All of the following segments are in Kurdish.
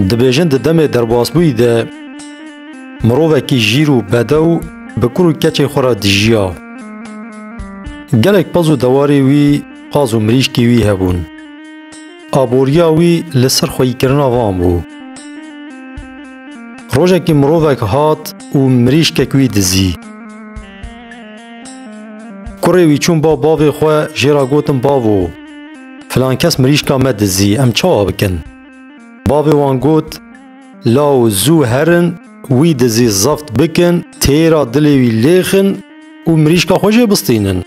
Dibêjin di demê derbasbûyî de mirovekî jîr û bedew bi kur û keçê xwe re dijiya. Gelek pez û dewarê wî qaz û mirîşkî wî hebûn. Aboriya wî li ser xweyîkirina van bû. Rojekî mirovek hat û mirîşkek wî dizî. Kurê wî çûn ba bavê xwe jê re gotin bavo. Filan kes mirîşka me dizî, em çawa bikin? Bavê wan got, Law zû herin, wî dizî zeft bikin, têra dilê wî lêxin û mirîşka xwe jê bistînin.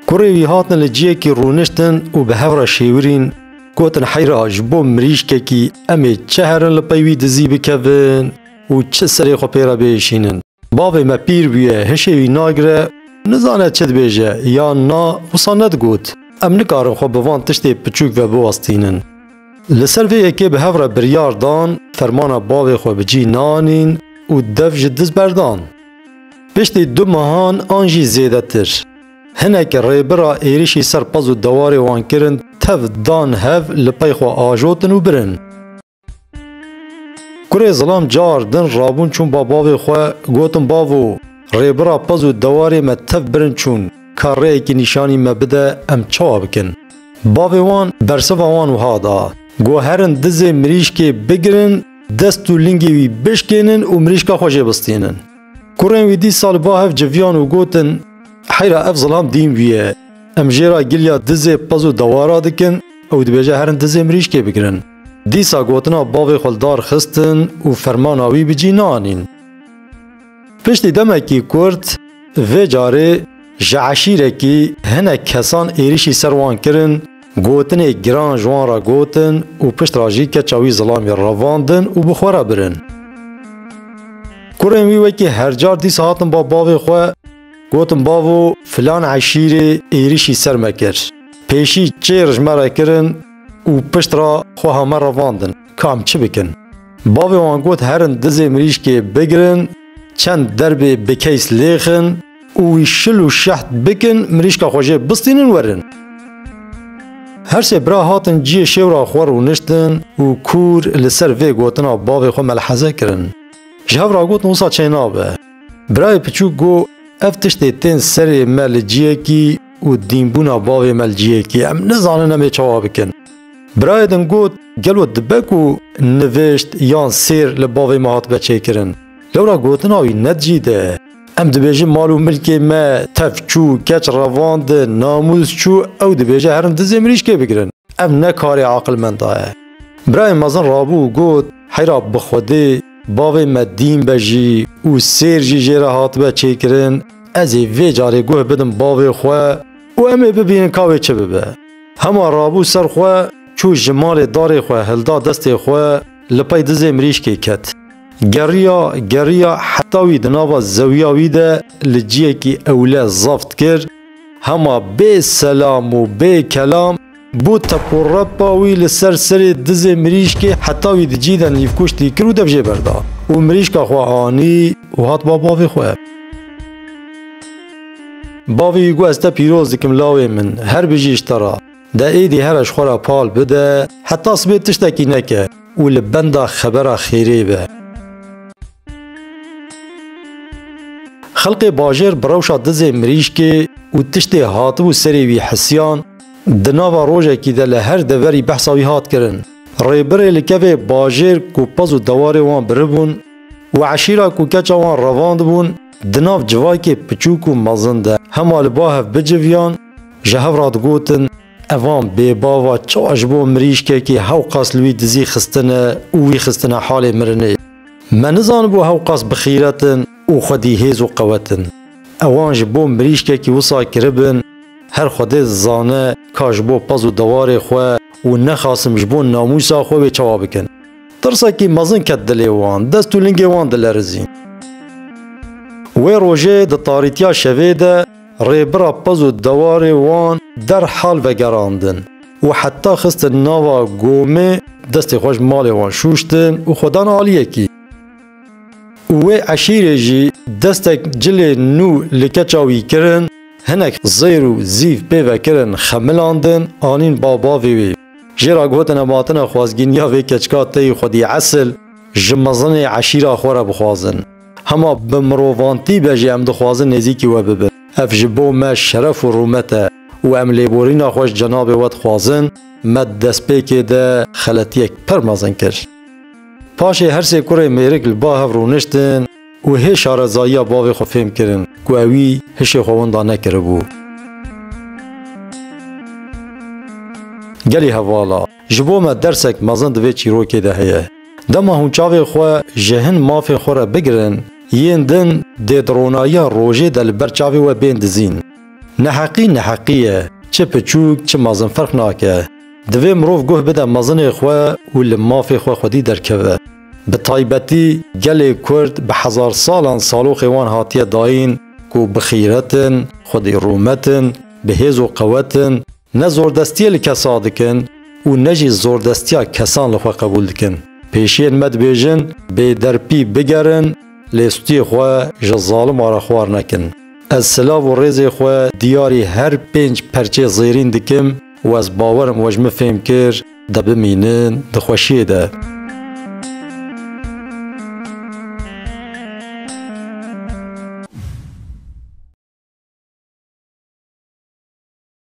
Kurê wî hatin li ciyekî rûniştin û bi hev re şêwirîn, gotin heyra ji bo mirîşkekî em ê çi herin li pey wî dizî bikevin û çi serê xwe pê re biêşînin. Bavê me pîr bûye, hişê wî nagire, nizane çi dibêje yan na, wisa nedigot. Em nikarin xwe bi van tiştê piçûk ve biwestînin. Li ser vê yekê bi hev re biryar dan fermana bavê xwe bi cî nanîn û dev ji diz berdan. Piştî du mehan an jî zêdetir, hinek rêbira êrişî ser pez û dewarê wan kirin tev dan hev li pey xwe ajotin û birin. Kurê zilam car din rabûn çûn ba bavê xwe gotin bavo rêbira pez û dewarê me tev birin çûn ka rêyekî nîşanî me bide em çawa bikin. Bavê wan bersiva wan wiha da, Go herin dizê mirîşkê bigirin dest û lingê wî bişkênin û mirîşka xwe jê bistînin. Kurên wî dîsa li ba hev civiyan û gotin heyra ev zilam dîn wî ye. Em jê ra giliya dizê pez û dewara dikin ew dibêje herin dizê mirîşkê bigirin. Dîsa gotina bavê xwe li dar xistin û fermana wî bi cî neanîn. Piştî demekî Kurd vê carê ji eşîrekî hinek kesan êrîşî ser wan kirin, gotinê giran ji wan re gotin û pişt re jî keça wî zilamê revandin û bi xwe re birin. Kurên wî wekî hercar dîsa hatin ba bavê xwe, gotin bavo filan eşîrê êrîşî ser me kir. Pêşî çêr ji me re kirin, û pişt re xwe heme revandin ka em çi bikin. Bavê wan got herin dizê mirîşkê bigirin, çend derbê bi keys lêxin û wî şil û şeht bikin mirîşka xwe jê bistînin werin. Her sê bira hatin ciyê şêw re xwe rûniştin û kûr li ser vê gotina bavê xwe melheze kirin. Ji hev re gotin wisa çênabe. Birayê piçûk got ev tiştê tên serê me li ciyekî û dînbûna bavê me li cihê kê em nizanin em ê çawa bikin. Birayê din got, gelo dibe ku nivîşt yan sêr li bavê me hatibe çêkirin? Lewra gotina wî ne di cih de ye. Em dibêjin mal û milkê me tev çû, keç revandin, namûs çû, ew dibêje herin dizê mirîşkê bigirin. Ev ne karê aqilmenda ye. Birayê mezin rabû û got, heyra bi xwedê Bavê me dîn be jî û sêr jî jê re hatibe çêkirin, ez ê vê carê guh bidim bavê xwe û em ê bibînin ka wê çi bibe. Hema rabû ser xwe çû ji malê darê xwe hilda destê xwe li pey dizê mirîşkê ket. Geriya, geriya heta wî di nava zewiya wî de li ciyekî ewle zaft kir, Hema bê selam û bê kelam bû teporepa wî li ser serê dizê mirîşkê heta wî di cî de nîvkuştî kir û dev jê berda û mirîşka xwe anî û hat ba bavê xwe. Bavê wî got ez te pîroz dikim lawê min, her bijî ji te re. De êdî here ji xwe re pal bide heta sibê tiştekî neke û li benda xebera xêrê be. Xelkê bajêr bi rewşa dizê mirîşkê û tiştê hatibû serê wî hisiyan, di nava rojekî de li her deverî behsa wî hat kirin. Rêbirê li kevê bajêr ku pez û dewarê wan biribûn û eşîra ku keça wan revandibûn di nav civakê piçûk û mezin de hema li ba hev biciviyan, ji hev re digotin, Evan bêbava çawa ji bo mirîşkekî hewqas li wî dizî xistine û wî xistine halê mirinê. Me nizanibû hewqas bi xîret in û xwedî hêz û qewet in. Ewan ji bo mirîşkekî wisa kiribin, her xwedê dizane ka ji bo pez û dewarê xwe û nexasim ji bo namûsa xwe wê çawa bikin. Tirsekî mezin ket dilê wan, dest û lingê wan dilerizîn. Wê rojê di tarîtiya şevê de, Rêbira Pez û dewarê wan derhal vegerandin û heta xistin nava Gomê destê xwe ji malê wan şûştin û xwe dan aliyê kî. Û wê eşîrê jî destek cilê nû li keça wî kirin, hinek zêr û zîv pê ve kirin xemilandin, anîn bav bavê wê. Jê re gotine matine xwazgîniya vê keçika teyî xwedî esil ji mezinê eşîra xwe re bixwazin. Hema bi mirovantî be jî em dixwazin nêzîkî we bibin. Ev ji bo me şeref û rûmet e û em lêborîna xwe ji cenabê we dixwazin, me di destpêkê de xeletiyek pir mezin kir. Paşê her sê kurê mêrik li ba hev rûniştin û hê şarezayiya bavê xwe fêm kirin ku ew wî hişê xwe winda nekiribû. Gelê hevala. Ji bo me dersek mezin di vê çîrokê de heye. Dema hûn çavên xwe ji hin mafên xwe re bigirin, yên din dê di ronayiya rojê de li ber çavê we bên dizîn. Neheqî neheqî ye, çi piçûk çi mezin ferq nake. Divê mirov guh bide mezinê xwe û li mafê xwe xwedî derkeve. Bi taybetî gelê Kurd bi hezar salan saloxê wan hatiye dayîn ku bi xîret in, xwedî rûmet in, bi hêz û qewet in, Ne zordestiyê li kesa dikin û ne jî zordestiya kesan li xwe qebûl dikin. Pêşiyên me dibêjin bêderpî bigerin lê stûyê xwe ji zalima re xwar nekin. Ez silav û rêzê xwe diyarî her pênc perçê zêrîn dikim û ez bawer im we ji min fêm kir de bimînin di xweşiyê de.